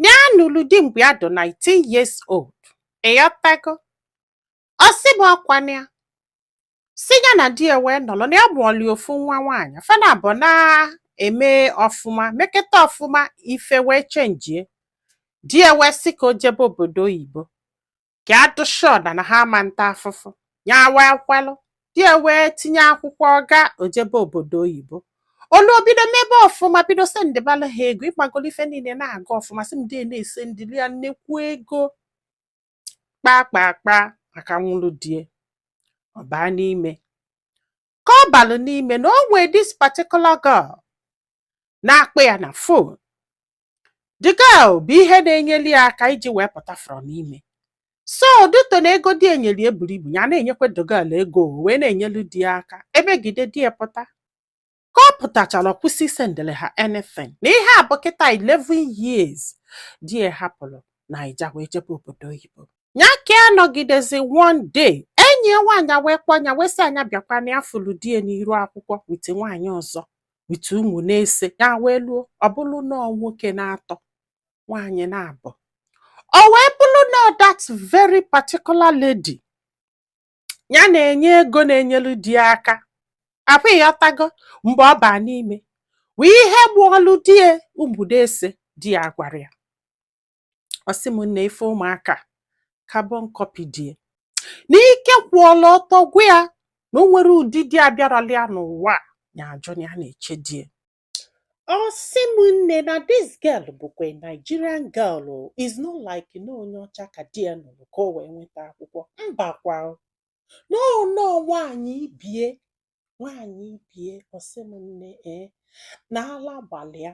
ya nụrụ di mgbe ya dị 19 years old ịghọtago ọ sị m ọkwa na ya sị ya na di ya wee nọrọ na ya mụọlị ofu nwa nwaanyị fa naabọ na-eme ọfụma meketa ọfụma ife wee chenjie di ya wee sị ka o jebe obodo oyibo ka a dụ sure that na ha ama nta afụfụ ya wee kwelụ di ya wee tinye akwụkwọ ọ gaa o jebe obodo oyibo o luo bido mebe ọfụma bido sendịbalụ ha ego ịgbagolo ife niile na-aga ọfụma sị m di ya na-esendịlị ya nnekwu ego kpaa kpaa kpaa maka nwụrụ die ọ baa n'ime ka ọ balụ n'ime na o nwee this particular girl na-akpọ ya na fon the girl bụ ihe na-enyeli ya aka iji wee pụta from ime so due to na ego di e nyeli ya buru ibu ya na-enyekwa the girl ego o wee na-enyelu di ya aka emegide di ya pụta ka ọ pụtachara ọ kwụsị isendịrị ha anything na ihe a bụ kịta 11 years di ya hapụrụ naija wee jebe obodo oyibo ya ka a nọgidezi one day enyi ya nwaanyị a wee kpọọ ya wee sị a nya bịakwa na ya fụrụ di ya n'iru akwụkwọ with nwaanyị ọzọ with ụmụ n'ise ya wee luo ọ bụrụ nọọ nwoke naatọ nwaanyị naabọ o wee bụrụ na that very particular lady ya na-enye ego na-enyelu di ya aka ọkwa ịghọtago mgbe ọ baa n'ime bụ ihe mụọlụ di ya ụmụ n'ise di ya gwara ya ọ sị m nne ị fụ ụmụaka carbon copy die na ike kwụọla ọtọ gwụ ya na o nwere ụdị di abịarala ya n'ụwa a, ya ajụ na ya na-eche die ọ sị m nne na this girl bụkwa a Nigerian girl o, is not like na onye ọcha ka di ya nụrụ ka o wee nweta akwụkwọ mba kwa o. na ọ nọọ nwaanyị ibie nwaanyị ibie ọ sị m nne ee na ala gbalị ya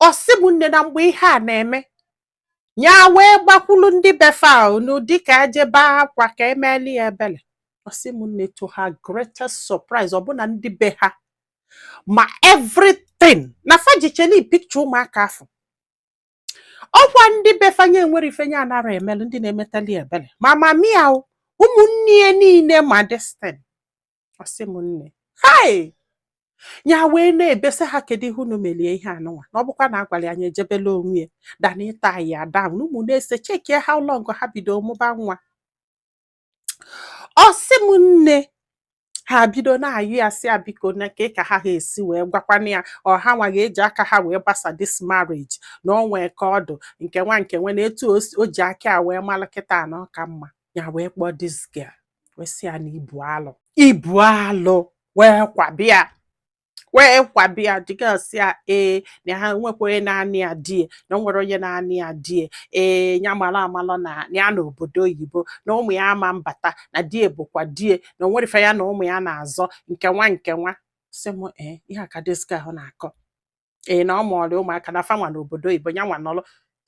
ọ sị m nne na mgbe ihe a na-eme ya wee gbakwulu ndị be fa n'ụdị ka e je be akwa ka emeli ya ebele ọ sị m nne to her greatest surprise ọ bụ na ndị be ha ma everything na fa jichali pikcha ụmụaka afụ ọkwa ndị be fa nya nwere ife nya anara emelu ndị na-emetali ebele ma mama ya ụmụnne ya niile ma this thing ọ sị m nne hai ya wee na-ebesa ha kedu ihe unu melie ihe anụnwa na ọ bụkwa na a gwara ya nya ejebela onwe ya than ịtie ya down na ụmụ n'ise chekie how long ha bido mụba nwa ọ sị m nne ha bido na-ayọ ya sị ya biko na nke ka ha ha esi wee gwakwana ya ọ hanwa ga-eji aka ha wee gbasa this marriage na o nwee ka ọ dụ nke nwa nke nwe na etu o ji aka ya wee mara kịta na ọ ka mma ya wee kpọọ this girl wee sị ya na ibu alụ ibu alụ wee kwabịa wee kwabịa the girl sị ya ee na ha nwekwa onye na-anị ya die na o nwere onye na-anị ya die ee ya mara amalọ na ya na obodo oyibo na ụmụ ya ama mbata na die bụkwa die na o nwere ife ya na ụmụ ya na-azọ nke nwa nke nwa sị m ee ihe a ka this girl ahụ na-akọ ee na ọ mụlụ ụmụaka na fanwa na obodo oyibo ya nwa nọrọ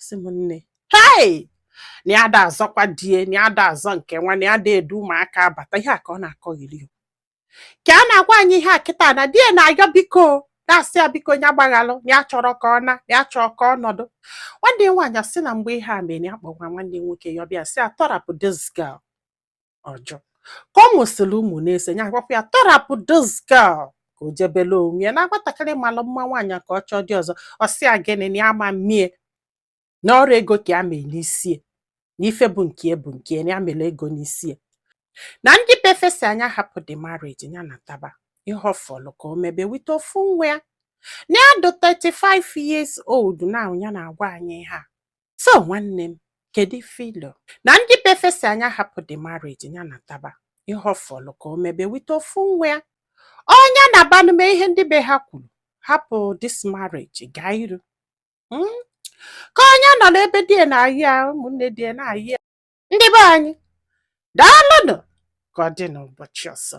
sị m nne hei na ya da azọkwa die na ya da azọ nke nwa na ya da edu ụmụaka abata ihe a ka ọ na-akọrị ya ka a na-agwa anyị ihe a kịta na die na-ayọ biko na-asị ya biko ya gbaghalụ na ya chọrọ ka ọ na na ya chọọ ka ọ nọdụ nwanne ya nwaanyị asị na mgbe ihe a mere ya kpọkwa nwanne ya nwoke ya ọ bịa sị ya tọrapụ this girl ọ jụ ka ọ mụsịrị ụmụ n'ise ya gwakwa ya tọrapụ this girl ka o jebele onwe ya na nwatakịrị malụ mma nwaanyị ka ọ chọọ di ọzọ ọ sị ya gịnị na ya ama mmie na ọrọ ego ka ya melụ n'isie na ife bụ nke ya bụ nke ya na ya mere ego n'isie na ndị be fa sị ya ya hapụ the marriage ya nataba ihe ọ fọlụ ka o mebe wite ofu nwa ya na ya dị 35 years old na ya na-agwa anyị ihe a so nwanne m kedu ife i lo na ndị be fa sị ya ya hapụ the marriage ya nataba ihe ọ fọlụ ka o mebe wite ofu nwa ya ọ ya nabanụ mee ihe ndị be ha kwuru hapụ this marriage gaa iru hmm? ka ọ ya nọ n'ebe die na-ayọ ya ụmụnne die na-ayọ ya ndị be anyị daalụnụ ka ọ dị n'ụbọchị ọzọ